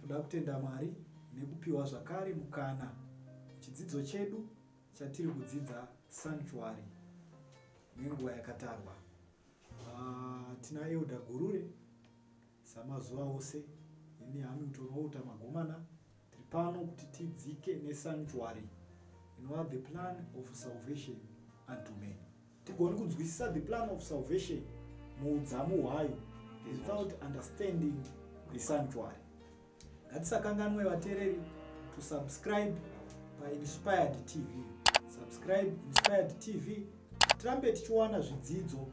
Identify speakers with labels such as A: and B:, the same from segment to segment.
A: Toda kutenda Mwari nekupiwa zvakare mukana chidzidzo chedu chatiri kudzidza sanctuary nenguva yakatarwa. Uh, tina Elda Gurure samazuva ose ini Hamilton Outa Magomana tiri pano kuti tidzike nesanctuary inova the plan of salvation unto men. tigoni kunzwisisa the plan of salvation muudzamu hwayo without understanding the sanctuary ngatisakanganwe vateereri to subscribe painspired tv subscribe inspired tv tirambe tichiwana zvidzidzo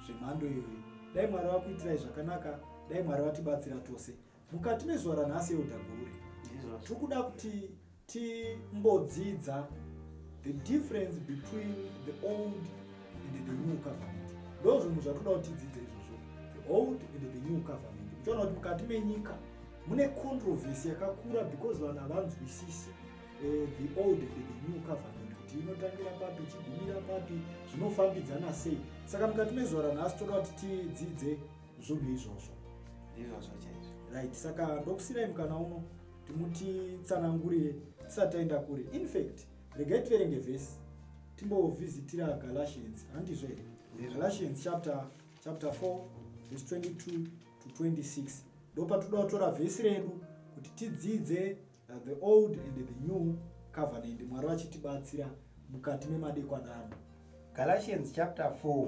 A: zvemhando iyoyi dai mwari vakuitirai zvakanaka dai mwari vatibatsira tose Mukati mezuva ranhasi Elder Gure, tikuda kuti timbodzidza the difference between the old and the new covenant. Ndo zvinhu zvatoda kuti tidzidze izvozvo, the old and the new covenant. Muchaona kuti mukati menyika mune controversy yakakura because vanhu havanzwisisi eh, the old and the new covenant kuti inotangira papi ichigumira papi zvinofambidzana sei saka mukati mezuva ranhasi toda kuti tidzidze zvunhu izvozvo izvozvo chaizvo right saka ndokusirai mukana uno timutitsanangurire tisati taenda kure infact regai tiverenge vhesi timbovhizitira galatians handizvo here galatians chapter chapter 4 vhesi 22 to 26 ndopatoda kutora vhesi redu kuti tidzidze uh, the old and the new covenant mwari vachitibatsira mukati memadekwanano galatians
B: chapter 4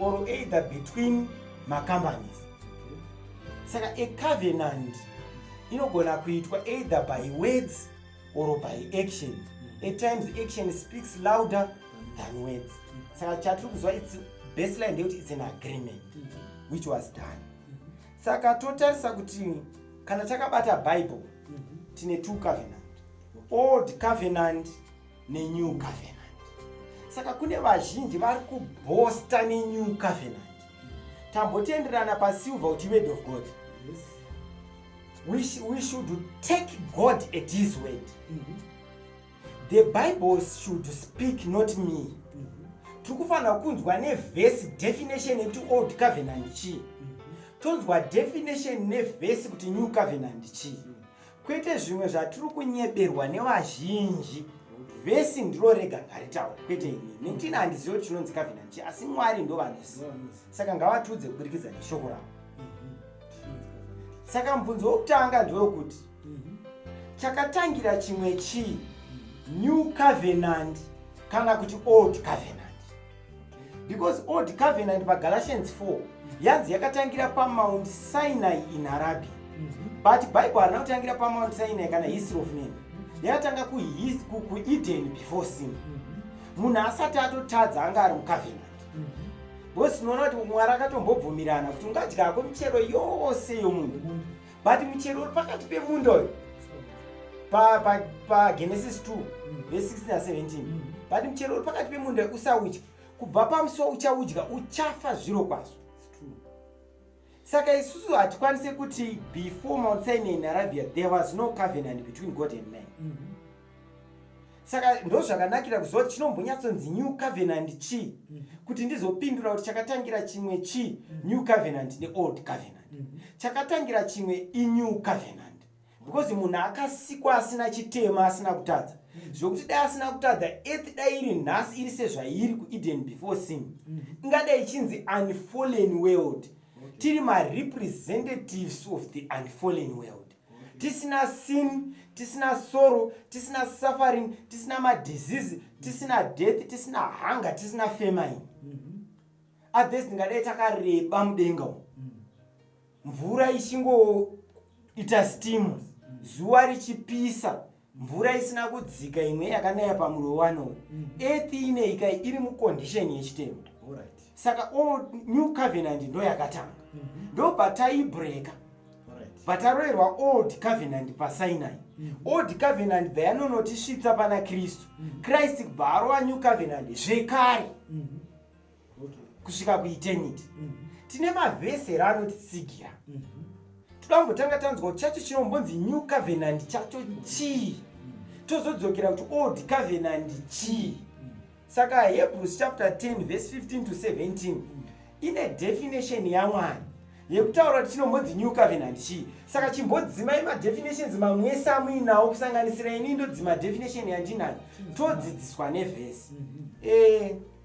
B: or either between macompanies saka a covenant inogona kuitwa either by words or by action at times action speaks louder than words saka chatiri kuziva its baseline ndeyekuti its an agreement which was done saka totarisa kuti kana takabata bible tine two covenant old covenant nenew covenant saka kune vazhinji vari kubhosta nenew covenant tambotenderana pasilver kuti word of god we, sh we should take god at his word mm -hmm. the bible should speak not me mm -hmm. tiri kufanira kunzwa nevhesi definition yekuti old covenant chii mm -hmm. tonzwa definition nevhesi kuti new covenant chii mm -hmm. kwete zvimwe zvatiri kunyeberwa nevazhinji vhesi ndiro rega ngaritaura kwete ini nekuti ini handizivi kuti chinonzi kavhina nchi asi mwari ndo vanozi saka ngavatiudze kuburikidza neshoko ravo saka mubvunzo wokutanga ndewekuti chakatangira chimwe chii new covenant kana kuti old covenant because old covenant pagalatians 4 yanzi yakatangira pamount sinai in arabia mhm. but bible harina kutangira pamount sinai kana history of man yakatanga kueden before sin mhm. munhu asati atotadza anga ari mucovenant mhm. because tinoona kuti mwari akatombobvumirana kuti ungadyako michero yose yomunhu but muchero uri pakati pemunda uyu pagenesis 2 vese 16 na17 but muchero uri pakati pemunda usaudya kubva pamusiwa uchaudya uchafa zviro kwazvo saka isusu hatikwanise kuti before mount sinai nearabia there was no covenant between god and man mm -hmm. saka ndozvakanakira kuziva kuti chinombonyatsonzi new covenant chii mm. kuti ndizopindura kuti chakatangira chimwe chii mm. new covenant neold covenant mm. chakatangira chimwe inew covenant because munhu akasikwa asina chitema asina kutadza zvokuti dai asina kutadza ethi dai iri nhasi iri sezvairi kueden before sin ingadai ichinzi unfallen world tiri marepresentatives of the unfallen world tisina sin tisina sorrow tisina suffering tisina madisease tisina death tisina hunger tisina famine mm-hmm. at this ndingadai takareba mudenga umu mm. mvura ichingoita steam zuva richipisa mvura isina kudzika imwe yakanaya pamurovano uyu mm. earth ineika iri mucondition yechitema right. saka all new covenant ndo yakatanga mm -hmm. ndo pataibreaka right. pataroerwa old covenant pasinai mm -hmm. old covenant bva yanonotisvitsa pana kristu mm -hmm. kristu bva arova new covenant zvekare mm -hmm. kusvika kueternity mm. tine mavhesi here anotitsigira mm -hmm. toda kumbotanga tanzwa chacho chinombonzi new covenant chacho chii mm. tozodzokera kuti old covenant chii mm. saka hebrews chapter 10 verse 15 to 17 mm. ine definition yamwari yekutaura kuti chinombonzi new covenant chii saka chimbodzimai madefinitions mamwese amuinawo kusanganisira ini ndodzima definition yandinayo mm. todzidziswa nevhesi mm -hmm. e,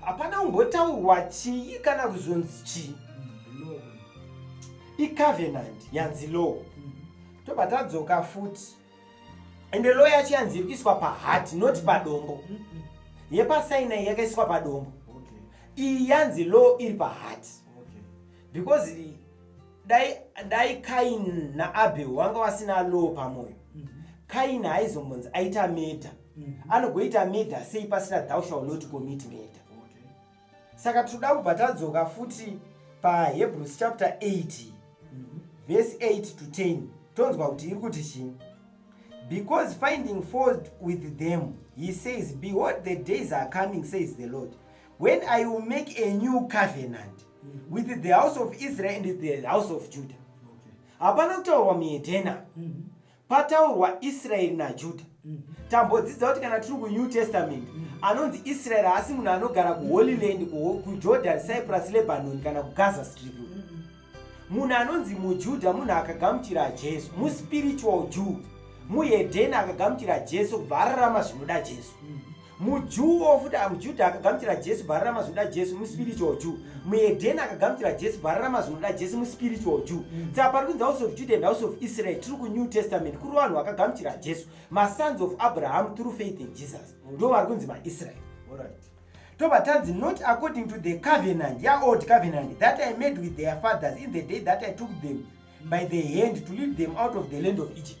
B: hapana kumbotaurwa chii kana kuzonzi chii icovenant yanzi law tobva tadzoka futi ende law yacho yanzi iri kuiswa pahati not padombo yepasaina iyi yakaiswa padombo iyi yanzi law iri pahati because dai, dai kain naabel wanga wasina law pamwoyo kain haizombonzi aita meta mm. anogoita murder sei pasina thou shall not commit murder okay. saka tinoda kubva tadzoka futi pahebrews chapter 8 mm -hmm. verse 8 to 10 tonzwa kuti iri kuti chii because finding fault with them he says behold the days are coming says the lord when i will make a new covenant mm -hmm. with the house of israel and the house of judah hapana okay. kutaurwa muedena mm -hmm. pataurwa israeri najuda mm. tambodzidza kuti kana tiri kunew testament mm. anonzi israeri haasi munhu anogara kuholy land kujordan cyprus lebanon kana kugaza strip mm. munhu anonzi mujuda munhu akagamuchira jesu muspiritual jew muhedheni akagamuchira jesu kubva ararama zvinoda jesu mujuwo futi mujudha akagamuchira jesu bvararama zvinoda jesu muspiritual jew muedheni akagamuchira jesu bvararama zvinoda jesu muspiritual jew mm. saka pari kunzi house of juda and house of israel tiri kunew testament kuri vanhu vakagamuchira jesu masons of abraham through faith in jesus mm. ndo vari kunzi maisrael tobva tanzi not according to the covenant yaold covenant that i made with their fathers in the day that i took them by the hand to lead them out of the land of egypt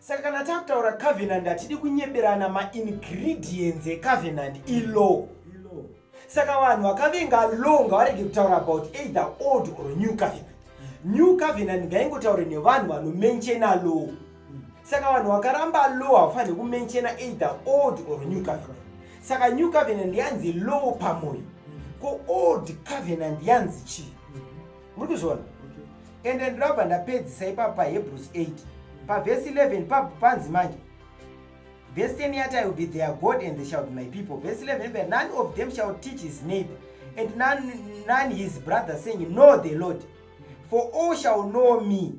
B: Saka kana takutaura covenant hatidi kunyeberana maingredients ecovenant ilaw. Saka vanhu vakavenga law ngavarege kutaura about either old or new covenant. New covenant ngaingotaure nevanhu vanomenchena law. Saka vanhu vakaramba law havafanire kumenchena either old or new covenant. Saka new covenant yanzi law pamoyo. Ko old covenant yanzi chii? muri kuzviona and ndinobva ndapedzisa ipapo pahebrews 8 pavhesi 11 papo panzi manje vhesi 10 yati i will be their god and they shall be my people vhesi 11 but none of them shall teach his neighbor and none, none his brother saying know the lord for all shall know me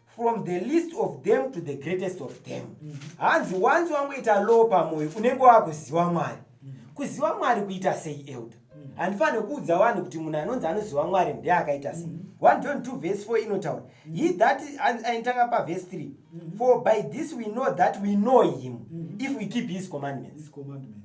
B: from the least of them to the greatest of them mhm. hanzi mm -hmm. wanzi wangoita low pamoyo unenge wakuziva mwari mm -hmm. kuziva mwari kuita sei elder mm -hmm. handifanire kuudza vanhu kuti munhu anonzi anoziva mwari ndiye akaita sei mm -hmm. 1 john 2 vhesi 4 inotaura mm -hmm. he that ainitanga pavhesi 3 mm -hmm. for by this we know that we know him mm -hmm. if we keep his commandments, his commandments.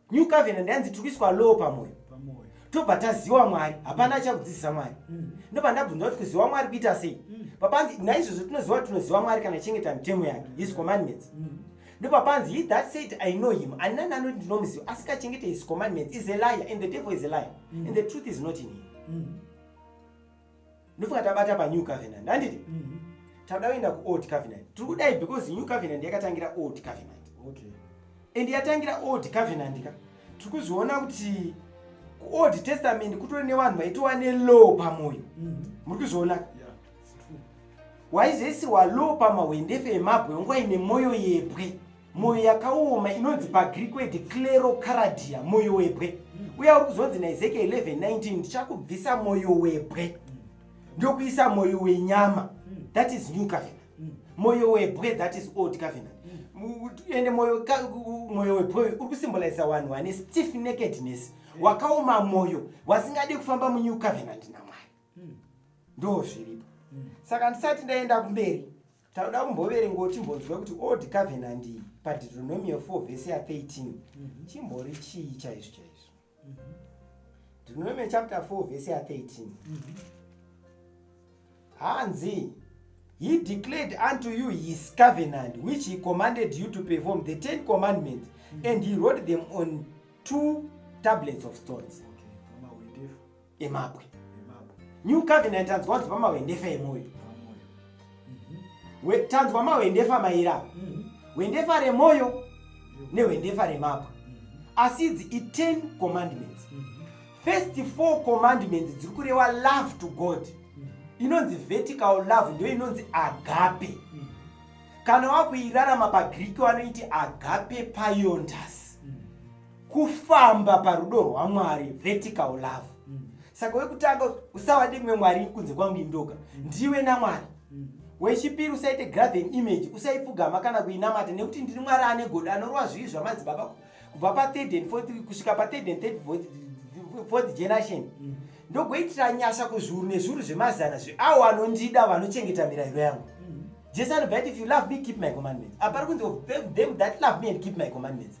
B: new covenant yanzi tiri kuiswa law pamoyo tobva taziwa mwari hapana achakudzidzisa mwari mm. ndobva ndabvunza kuti kuziwa mwari kuita sei mm. papanzi naizvozvo tinoziva kuti tinoziva mwari kana chengeta mitemo yake his mm. commandments ndopapanzi he that said i know him ani nani anoti ndinomuziva asikachengete his commandments is a liar and the devil is a liar and the truth is not in him ndofunga tabata panew covenant handiti mm -hmm. tauda kuenda kuold covenant tiri kudai because new covenant yakatangira old covenant okay.
A: and yatangira
B: old covenant ka tiri kuzviona kuti kuold testament kutori nevanhu vaitova nelow pamwoyo mm -hmm. muri kuzviona
A: yeah waizoisirwa
B: low pamahwendefe emabwe nguva ine mwoyo yebwe mwoyo yakaoma inonzi pagriki wedi clero caradia mwoyo webwe uya uri kuzonzi naezekiel 1119 ndichakubvisa mwoyo webwe ndokuisa mwoyo wenyama that is new covenant mwoyo webwe that is old covenant ende mwoyo webwe uri kusimbolaiza wanhu wane stiff nakedness wakaoma mwoyo wasingadi kufamba munew covenant namwari ndo zviripo saka ndisati ndaenda kumberi tauda kumboverengawo timbonzwa kuti old covenant iyi padeuteronomia 4 vhese ya 13 mhm. chimbori chii chaizvo chaizvo mhm. deuteronomia chapter 4 vhese ya 13 mhm. hanzi he declared unto you his covenant which he commanded you to perform the ten commandments and he wrote them on two tablets of stones emabwe new covenant tanzwa kuti pamahwendefa emwoyo mhm. tanzwa mahwendefa maira mhm. hwendefa remwoyo nehwendefa remabwe mhm. asi idzi iten commandments first four commandments dziri kureva love to god inonzi vertical love ndiyo inonzi agape kana wakuirarama pagreek wanoiti agape piontas kufamba parudo rwamwari vertical love mm. saka wekutanga usawa ndimwe mwari kunze kwangu indoga mm. ndiwe namwari mm. wechipiri usaite graven image usaipfugama kana kuinamata nekuti ndiri mwari ane godo anorova zvivi zvamadzibaba kubva pathird and fourth kusvika pathird and third fourth generation mm. ndogoitira nyasha kuzvuru nezvuru zvemazana zveawo anondida vanochengeta mirayiro yangu mm. jesu anobva ati if you love me keep my commandments apari kunzi them that love me and keep my commandments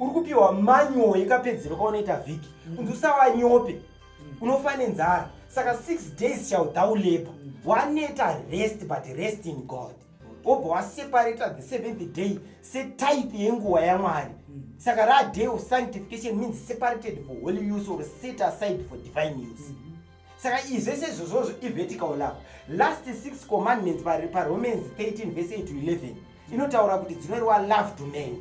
B: uri kupiwa manual yekapedzero kaunoita vhiki mm. kunzi usava nyope mm. unofa nenzara saka six days shall thou labor mm. waneta rest but rest in god wobva waseparata the seventh day setype yenguva yamwari saka raday of sanctification means separated for holy use or set aside for divine use mm -hmm. saka izvese izvozvozvo ivertical love last six commandments paromans 13 vese 8 to 11 inotaura kuti dzinoreva love to man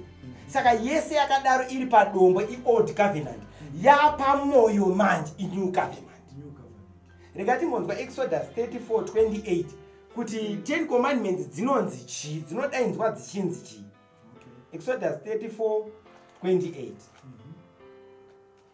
B: saka yese yakadaro iri padombo iold covenant yapamoyo manje inew covenant rega timbonzwa exodus 34 28 kuti ten commandments dzinonzi chii dzinodainzwa dzichinzi chii exodus 34 28 mm -hmm.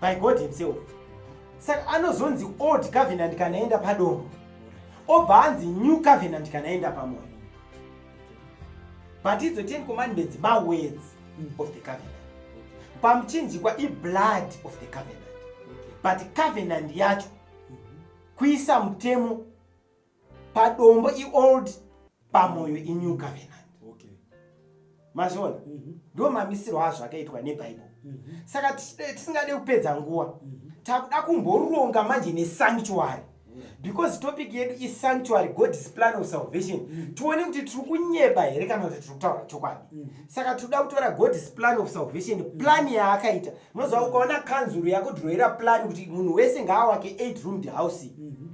A: by god himself
B: saka anozonzi old covenant kana aenda padombo obva anzi new covenant kana aenda pamoyo but idzo ten commandments mawords of the covenant pamuchinjikwa iblood of the covenant but covenant yacho kuisa mutemo padombo iold pamoyo inew covenant okay. mazviona mm -hmm. ndo mamisiro azvo akaitwa nebhaibheri mm -hmm. saka tisingade kupedza nguva mm -hmm. takuda kumboronga manje nesanctuary because topic yedu isanctuary god's plan of salvation mm. tione kuti tiri kunyeba here kana kuti tiri kutaura chokwadi mm. saka tinoda kutora god's plan of salvation mm. plan yaakaita unoziva ukaona kanzuru yakudhiroira plan kuti munhu wese ngaawake eight roomed house mm-hmm.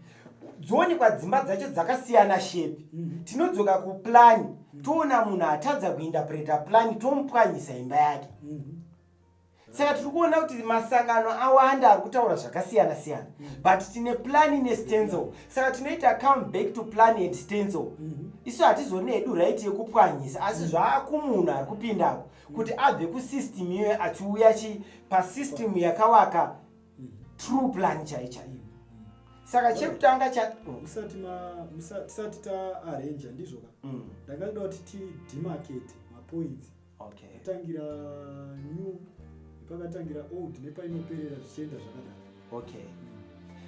B: dzoonekwa dzimba dzacho dzakasiyana shape mm. tinodzoka kuplani mm. toona munhu atadza kuindapreta plani tomupwanyisa imba yake mm. saka tiri kuona kuti masangano awanda ari kutaura zvakasiyana siyana mm. but tine plani nestenzl mm. saka tinoita come back to plani and stenzl mm -hmm. isu hatizone hedu right yekupwanyisa asi mm. zvaakumunhu ari kupindako mm. kuti abve kusystem iyoyo achiuya chi pasystem yakawaka true plan chai chaiyo saka chekutanga chamusati tisati
A: taarranja ndizvo ka mm. ndakaida kuti tidemarkete mapoints atangira new pakatangira old nepainoperera zvichienda zvakadaro okay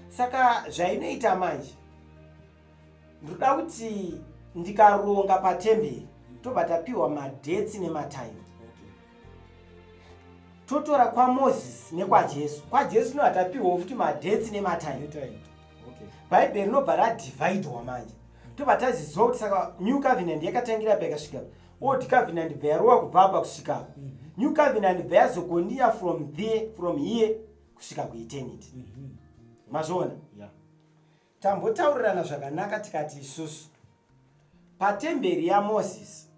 B: saka zvainoita manje ndoda kuti ndikaronga patemberi tobva tapiwa madheti nematime totora kwamozisi nekwajesu kwajesu no hatapiwawo futi madheti nematime bhaibheri rinobva radivhaidhwa manje tobva taziziva kuti saka new covenant yakatangira pa yakasvika old covenant bva yarowa kubva apa kusvika apa mhm. new covenant bva yazokoniya from there from here kusvika kueternity mhm. mazviona Tambotaurirana zvakanaka tikati isusu patemberi yaMoses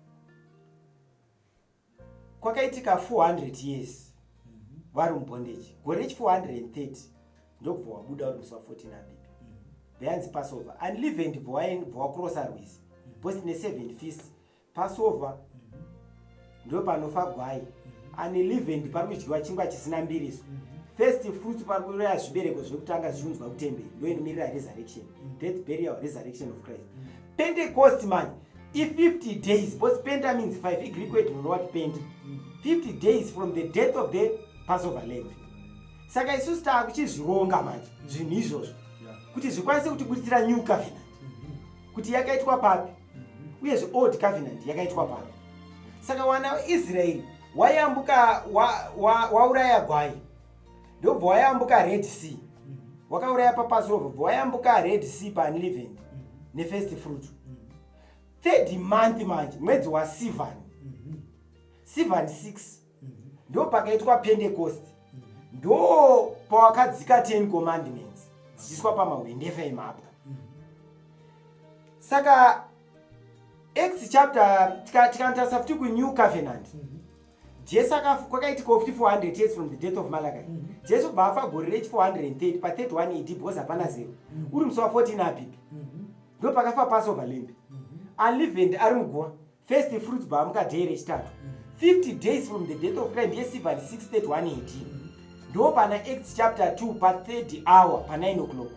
B: kwakaitika 400 years vari mubondage gore rechi 430 ndokubva wabuda uri musi wa 14 abibi bveyanzi passover unleavened bvowakrosa rwizi bhosi ne7 fist Passover ndo panofa gwai mhm. unleavened pari kudyiwa chingwa chisina mbiriso mhm. first fruits pari kuroya zvibereko zviri kutanga zvichiunzwa kutemberi ndoinomirira resurrection mhm. death burial resurrection of christ pentecost mani i50 days because penta means 5 igreek word rinowati penta 50 days from the death of the passover lamb saka isusu taakuchizvironga manje zvinhu izvozvo kuti zvikwanise kutibuditsira new covenant kuti yakaitwa papi uyezve old covenant yakaitwa papi saka wana israeri wayambuka wauraya wa, wa gwai ndobva wayambuka red sea wakauraya papasova bva wayambuka red sea paunlivend nefirst fruit third month manje mwedzi wasivan sivan 6 ndo pakaitwa pentecost ndo pawakadzika ten commandments dzichiiswa pamahwendefa emapwa saka acts chapter tikanotarisa futi kunew covenant jesu kwakaitika futi 400 years from the death of malachi mhm. jesu kubva afa gore rechi 430 pa 31 ed because hapana zero mhm. uri musi wa 14 apipi mhm. ndo pakafa passover lamb alive and ari muguva first fruits baamuka day rechitatu 50 mm. days from the death of christ ndiye siva 631 ad mm. ndo pana acts chapter 2 pa 3rd hour pa 9 o'clock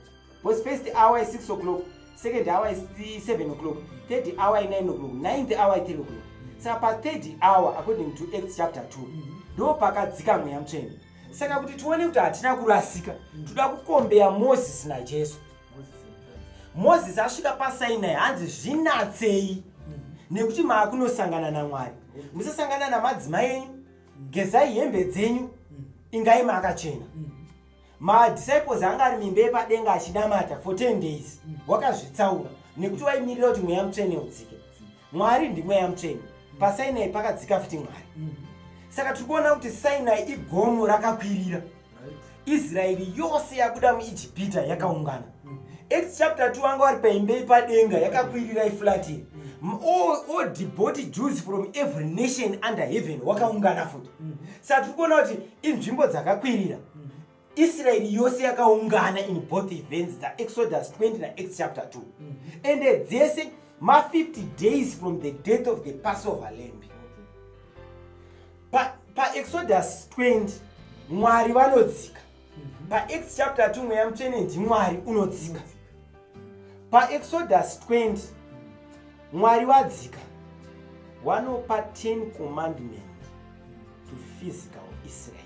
B: bcause first hour is 6 o'clock second hour is 7 o'clock third hour is 9 o'clock ninth hour is 3 o'clock mm. saka pa third hour according to acts chapter 2 ndo pakadzika mweya mutsvene saka kuti tione kuti hatina kurasika toda kukombeya moses najesu mozisi asvika pasainai hanzi zvinatsei nekuti maakunosangana namwari musasangana namadzimai enyu gezai hembe dzenyu ingai maakachena madisciples anga ari mimba yepadenga achinamata for 10 days wakazvitsaura nekuti waimirira kuti mweya mutsvene udzike mwari ndimweya mutsveni mm. pasainai pakadzika futi mwari mm. saka tiri kuona kuti sainai igomo rakakwirira israeri yose yabuda muijipita yakaungana mm. acts chapter 2 vanga vari paimbe ipadenga yakakwirira iflati all deboti jews from every nation under heaven wakaungana futi saka tiri kuona kuti inzvimbo dzakakwirira israeri yose yakaungana in both events dzaexodus 20 naex chapter 2 mm -hmm. ende dzese ma50 days from the death of the passover lamb paexodus pa 20 mwari vanodzika mm -hmm. paex chapter 2 mweya mutsvene ndimwari unodzika mm -hmm paexodus 20 mwari vadzika wanopa 10 commandment to physical israel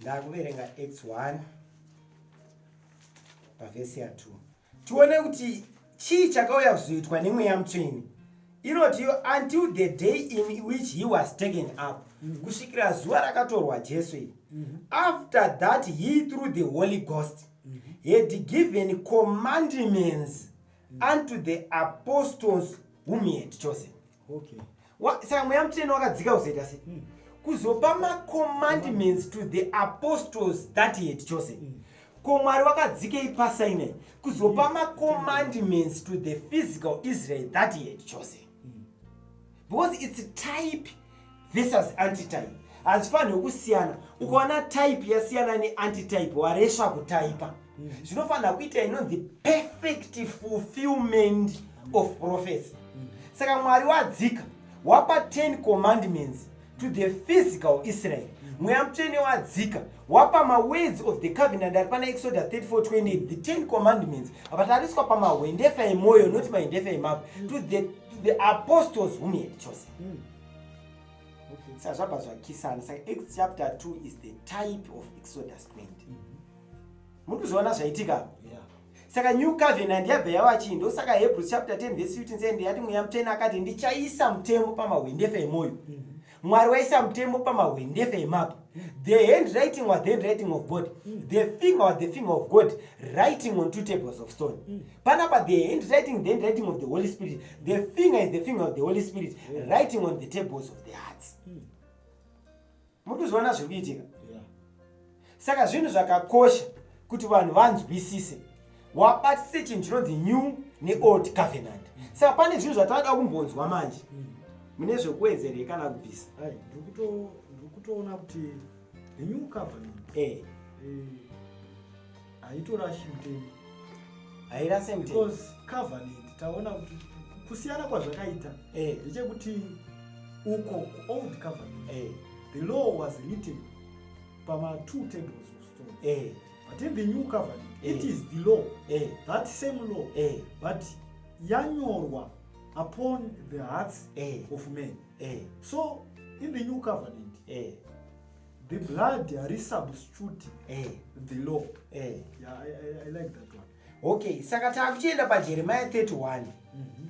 B: ndakuverenga x1 pavhesi ya 2 tione kuti chii chakauya kuzoitwa nemweya mutsveni inoti yo until the day in which he was taken up mhm. kusvikira zuva rakatorwa jesu iri mhm. after that he through the holy ghost mhm. had given commandments unto the apostles whom he had chosen okay Wa- saka mweya mutsvene wakadzika kuzoita sei Mm. kuzopa macommandments to the apostles that he had chosen Mm. ko mwari wakadzikei pasinai kuzopa macommandments to the physical israel that he had chosen Mm. because its type versus antitype hazifanirwe kusiyana ukaona type yasiyana neantitype waresva kutaipa mm. zvinofanira kuita inonzi perfect fulfillment of prophecy mm. saka mwari wadzika wapa 10 commandments to the physical israel mm. mweya mutsvene wadzika wapa mawords of the covenant ari pana exodus 3428 the 10 commandments avatariswa pamahwendefa emwoyo not mahendefa emabwe to the, to the apostles whom he had chosen mm. okay. sa zvabva zvakisana saka acts chapter 2 is the type of exodus 20 mm -hmm. muri kuzviona zvaitika yeah. saka new covenant yabva yava chii ndosaka hebrews chapter 10 vese 15 said yati mweya mutena akati ndichaisa mutemo pamahwendefa emwoyo mm -hmm mwari waisa mutemo pamahwendefa emapo the hand writing was the hand writing of god the finger was the finger of god writing on two tables of stone panapa the handwriting the handwriting of the holy spirit the finger is the finger of the holy spirit yeah. writing on the tables of the hearts hmm. mutozviona zviri kuitika yeah. saka zvinhu zvakakosha kuti vanhu vanzwisise wabatise chinhu chinonzi new neold covenant hmm. saka pane zvinhu zvatavada kumbonzwa manje hmm. mune zvekuwedzerei kana kubvisa ndiri
A: kutoona kuti the new covenant eh. Hey. Eh, haitorashi mutemo hairase
B: mutemo because covenant
A: taona kuti kusiyana kwazvakaita eh. ndechekuti eh. uko kuold covenant eh. the law was written pama two tables of stone eh. but in the new covenant eh. it is the law eh. that same law eh. but yanyorwa upon the hearts eh. of men eh. so in the new covenant eh. The blood hari substitute eh. the law. Eh. Yeah, I, I, I like that one. Okay, saka
B: takuchienda paJeremiah 31 mm -hmm.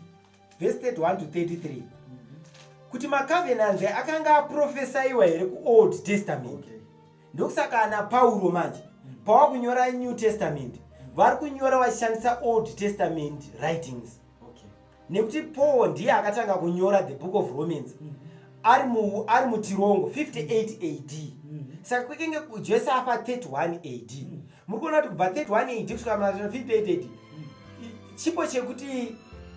B: verse 31 to 33 mm -hmm. kuti macovenants akanga aprofesaiwa here kuold testament okay. ndokusaka ana pauro manje mm -hmm. pawakunyora new testament mm -hmm. vari kunyora vachishandisa old testament writings nekuti paul ndiye akatanga kunyora the book of romans mm -hmm. ari mutirongo 58 a d mm -hmm. saka kwekenge jesu afa 31 a d mm -hmm. muri kuona kuti kubva 31 a d kusvika ma 58 a d chipo chekuti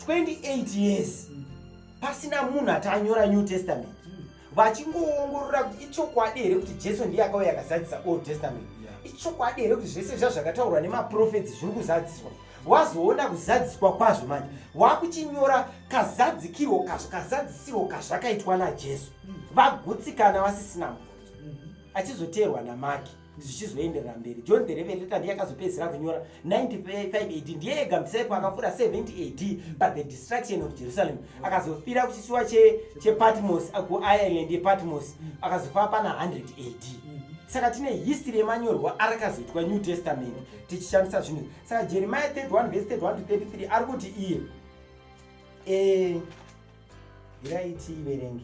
B: 28 years mm -hmm. pasina munhu ati anyora new testament vachingoongorora kuti ichokwadi here kuti jesu ndiye akauya akazadzisa old testament ichokwadi here kuti zvese zva zvakataurwa nemaprofetsi zviri kuzadziswa wazoona kuzadziswa kwazvo manje wakuchinyora kazadzikirwo kazvo kazadzisirwo kazvakaitwa najesu hmm. vagutsikana vasisina mubvunzo hmm. achizoteerwa namaki zvichizoenderera mberi john the revelator ndiye akazopedzisira kunyora 95 ad ndiye ega msepo akafura 70 ad but the destruction of jerusalem akazofira kuchisiwa chepatmos che ku ireland yepatmos akazofa pana 100 ad saka tine history yemanyorwa arakazoitwa new testament tichishandisa zvinhu saka jeremiah 31 vese 31 to 33 ari kuti iye e, eh, iraiti iverenge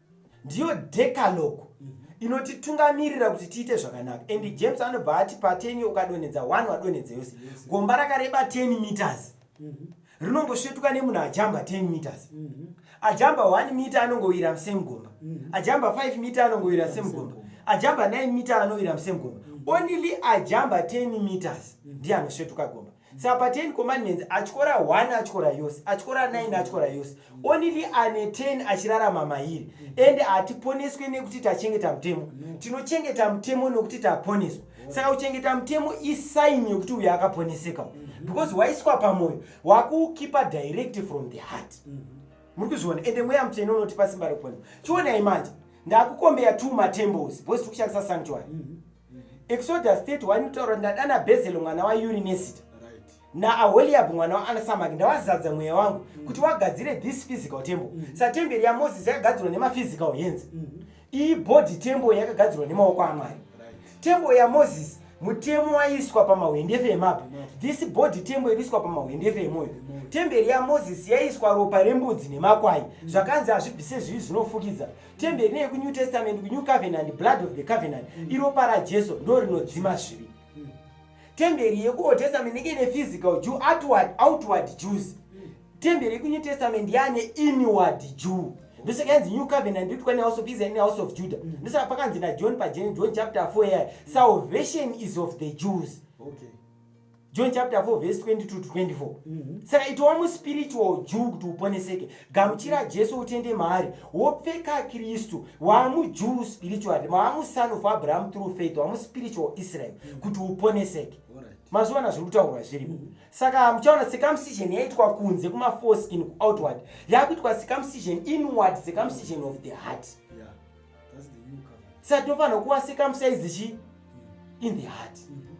B: ndiyo decalogue mhm. inotitungamirira kuti tiite zvakanaka and mhm. james anobva ati pateni ukadonhedza one wadonhedza yose gomba rakareba 10 meters mhm. rinongosvetuka nemunhu ajamba 10 meters ajamba 1 mita anongowira musame gomba ajamba 5 mita anongowira musame gomba ajamba 9 mita anowira musame gomba only ajamba 10 meters ndiye anosvetuka gomba Saka pa 10 commandments atyora 1 atyora yose, atyora 9 atyora yose. Only ane 10 achirarama mairi. Ende hatiponeswe nekuti tachengeta mutemo. Tinochengeta mutemo nekuti taponeswa. Saka kuchengeta mutemo isaini yekuti uyo akaponeseka. Because waiswa pamoyo, wakuukipa direct from the heart. Muri kuzviona ende mweya mutsvene unotipa simba rekuponeswa. Chionai manje, ndakukombeya two matemples because tiri kushandisa sanctuary. exodus 31 inotaura ndadana bhezelo mwana wayurinesita naaholiabhu mwana waanasamaki ndawazadza mweya wangu mm. kuti wagadzire this physical temple mm. satemberi yamozisi yakagadzirwa nemaphysical hands mm. iyi body temple yakagadzirwa nemaoko amwari temple yamozisi mutemo waiswa pamahwendefe emabwe this body temple iriiswa pamahwendefe emoyo temberi yamozisi yaiswa ropa rembudzi nemakwai zvakanzi hazvibvise zvivi zvinofukidza temberi neye kunew testament kunew covenant blood of the covenant mm. iropa rajesu ndo rinodzima zvivi mm. temberi yekuold testament inenge ine physical jew outward, outward jews mm. temberi yekunew testament yaane inward jew ndosaka yanzi new covenant nditwa nehouse of israel nehouse of judah mm. ndosaka pakanzi najohn pajen john chapter 4 yaya salvation is of the jews okay.
A: john
B: chapter 4 vese 22 to 24 mhm. saka itowa muspiritual jew kuti uponeseke gamuchira jesu utende maari wopfeka kristu waamujew spiritually maamuson of abraham through faith wamuspiritual israel mhm. kuti uponeseke mazuva na zviri kutaurwa zviri mhm. saka muchaona circumcision yaitwa kunze kumaforeskin kuoutward yakuitwa circumcision inward circumcision of the heart
A: saka tinofanira kuwa
B: circumcise chi in the heart mm -hmm.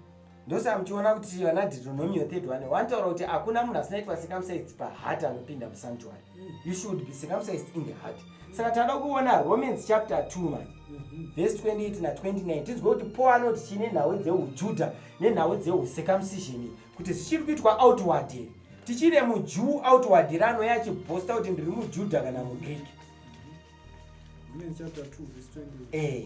B: ndosaa muchiona kuti vana deuteronomio 31 wanotaura kuti hakuna munhu asinaitwa circumcised paheart anopinda musanctuary you should be circumcised in the heart saka tinoda kuona romans chapter 2 manje mhm. verse 28 na 29 tinzwe kuti paul anoti chii nenhau dzeujuda nenhau dzehucircumcision kuti zvichiri kuitwa outward here tichiri mujuu outward here anoya achibhosta kuti ndiri mujuda kana mugreek
A: mhm. eh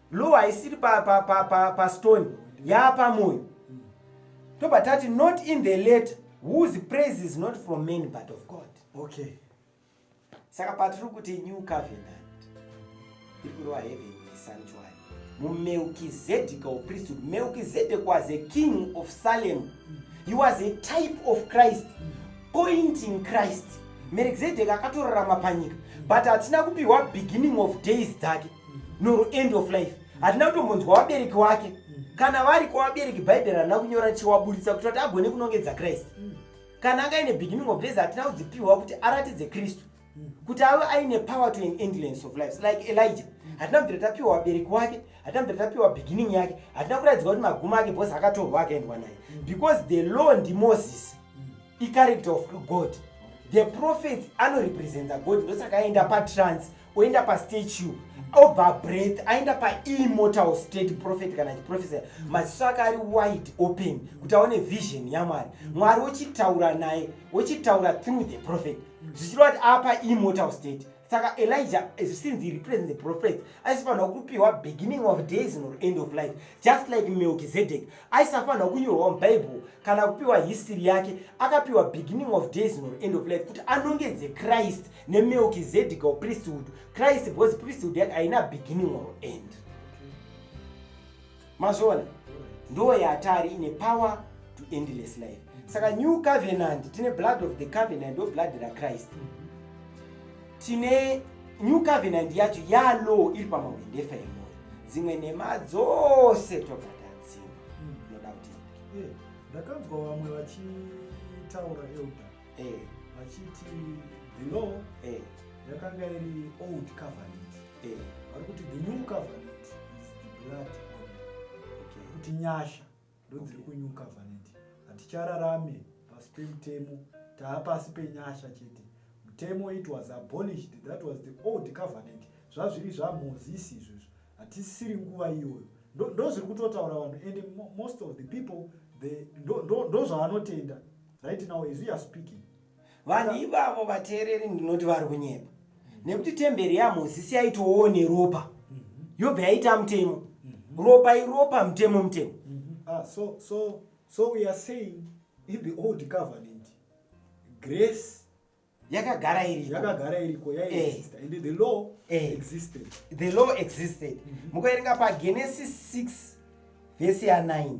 B: Law haisiri pa, pa, pa, pa, pa stone yaapamoyo tobva tati not in the letter whose praise is not from men but of god okay saka patiri kuti new covenant iri kureva heaven sanctuary mumelkizedek of priesthood melkizedek was a king of salem he was a type of christ pointing christ melkizedek akatorarama panyika but hatina kupiwa beginning of days dzake nor end of life hatina kutombonzwa vabereki wake kana vari kwavabereki bhaibheri harina kunyora chiwaburitsa kuti vati agone kunongedza kristu kana anga aine beginning of days hatina kudzipihwa kuti aratidze kristu kuti ave aine power to an endlance of life like elijah hatina kubvira tapiwa vabereki wake hatina kubvira tapiwa beginning yake hatina kuratidzwa kuti magumo ake bcause akatorwa akaendwa naye because the law ndimoses icharacter of god the prophets anorepresenta god ndosaka aenda patrance oenda pastatue obva breath aenda paimmortal state prophet kana chiprofesa maziso ake ari wide open kuti aone vision yamwari mwari wochitaura naye wochitaura through the prophet zvichireva kuti apa immortal state saka elijah since he represent the prophet aisifanira kupiwa beginning of days nor end of life just like melchizedek aisafanirwa kunyorwa mubible kana kupiwa history yake akapiwa beginning of days nor end of life kuti anongedze christ nemelkizedek or priesthood christ because priesthood yake haina beginning or end mazviona ndo yatari ine power to endless life saka new covenant tine blood of the covenant or blood rachrist mm -hmm. tine new covenant yacho yalow iri pamahwendefa emoyo dzimwe nhema dzose tobva tadzima hmm. inoda kuti eh, ndakanzwa vamwe
A: vachitaura elda eh. vachiti the law eh. yakanga iri old covenant vari kuti the new covenant is the blood kuti nyasha ndodziri kunyuka vaneti hatichararame pasi pemutemo taa pasi penyasha chete mutemo it was abolished that was the old covenant zvazviri zvamozisi izvozvo hatisisiri nguva iyoyo ndozviri kutotaura vanhu and most of the people ndozvavanotenda right now as we are speaking vanhu ivavo
B: vateereri ndinoti vari kunyepa nekuti temberi yamozisi yaitowo neropa yobva yaita mutemo ropa iropa mutemo mutemo ah, so, so,
A: so we are saying in the old covenant grace yakagara
B: iriko yakagara iriko yaiexista eh. and the
A: law eh. existed the law
B: existed mhm. mukaerenga pagenesis 6 vhesi ya 9 mhm.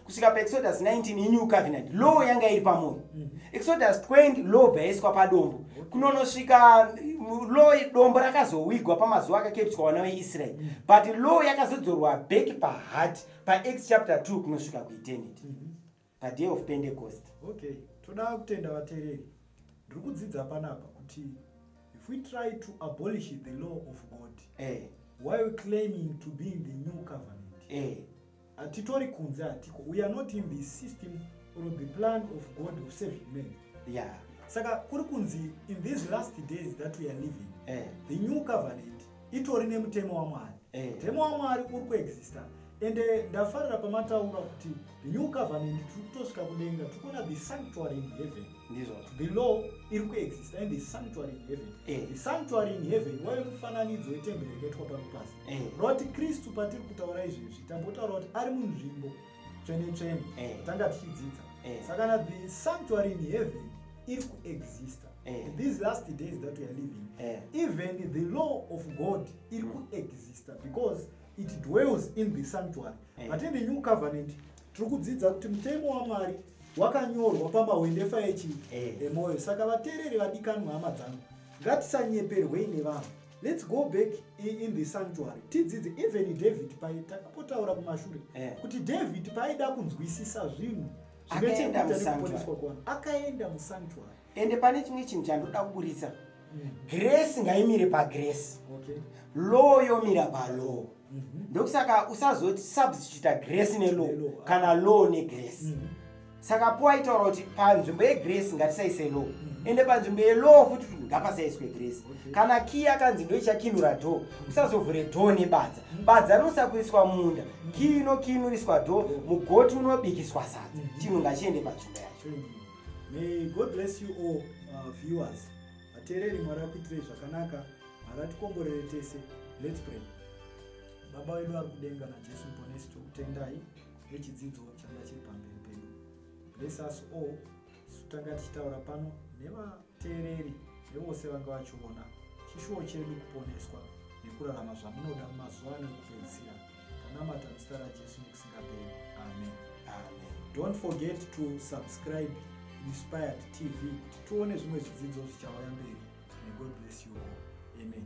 B: kusvika paexodus 19 inew covenant law yanga iri pamoyo mm. exodus 20 law bva yaiswa padombo kunonosvika mm, law dombo rakazowigwa pamazuva akakepswa wana weisrael mm. but law yakazodzorwa back pahat pax chapter 2 kunosvika kueternity mm-hmm. paday of pentecost okay toda
A: kutenda vatereri ndiri kudzidza panapa kuti if we try to abolish the law of god eh. while claiming to be in the new covenant eh. hatitori kunze hatiko we are not in the system or the plan of god of saving men yeah. saka kuri kunzi in these last days that we are living eh. the new covenant itori nemutemo wamwari eh. mutemo eh. wamwari uri kuexista ende eh, ndafarira pamataura kuti the new covenant tiri kutosvika kudenga tiri kuona the sanctuary in heaven the law iri kuexista in the sanctuary in heaven eh. the sanctuary in heaven wave mufananidzo wetemberi yakaitwa pano pasi eh. not kristu patiri kutaura izvezvi tambotaura kuti ari munzvimbo tsvene tsvene eh. tanga tichidzidza eh. saka na the sanctuary in heaven iri kuexista these last days that weare living even the law of god iri mm. kuexista because it dwells in the sanctuary but in the new covenant tiri kudzidza kuti mutemo wamwari wakanyorwa pamahwendefa echi emwoyo saka vateereri vadikanwa hama dzangu ngatisanyeperwei nevanhu Let's go back in the sanctuary tidzidze even David paye takapotaura kumashure yeah. kuti David paida kunzwisisa zvinhu zvinochekuita nekuponeswa
B: kwana akaenda
A: musanctuary ende pane chimwe
B: chinhu chandoda kuburitsa mm. grace ngaimire pagrace okay. law yomira palaw mm -hmm. ndokusaka usazoti substituta grace nelaw kana law negrace mm -hmm. saka po aitaura kuti panzvimbo yegrace ngatisaise law mm. ende panzvimbo yelaw futi kuti ngapasaiswe grace okay. kana key akanzi ndoichakinura door usazovhure door nebadza mm. badza rinosakuriswa munda mm. key inokinuriswa door mm. mugoti unobikiswa sadza mm. chinhu ngachiende
A: panzvimbo
B: yacho
A: mm. may
B: god bless
A: you all uh,
B: viewers
A: ateereri mwari akuitirei zvakanaka haratikomborere tese lets pray baba wedu ari kudenga najesu muponesi tokutendai rechidzidzo changa chiri pamberi pedu bless us all tanga tichitaura pano nevateereri nevose vanga vachiona chishuwo chedu kuponeswa nekurarama zvamunoda mumazuva ano ekupedzisira tanamata muzita rajesu nekusingaperi amen amen
B: don't forget
A: to subscribe inspired tv kuti tione zvimwe zvidzidzo zvichauya mberi negod bless you all amen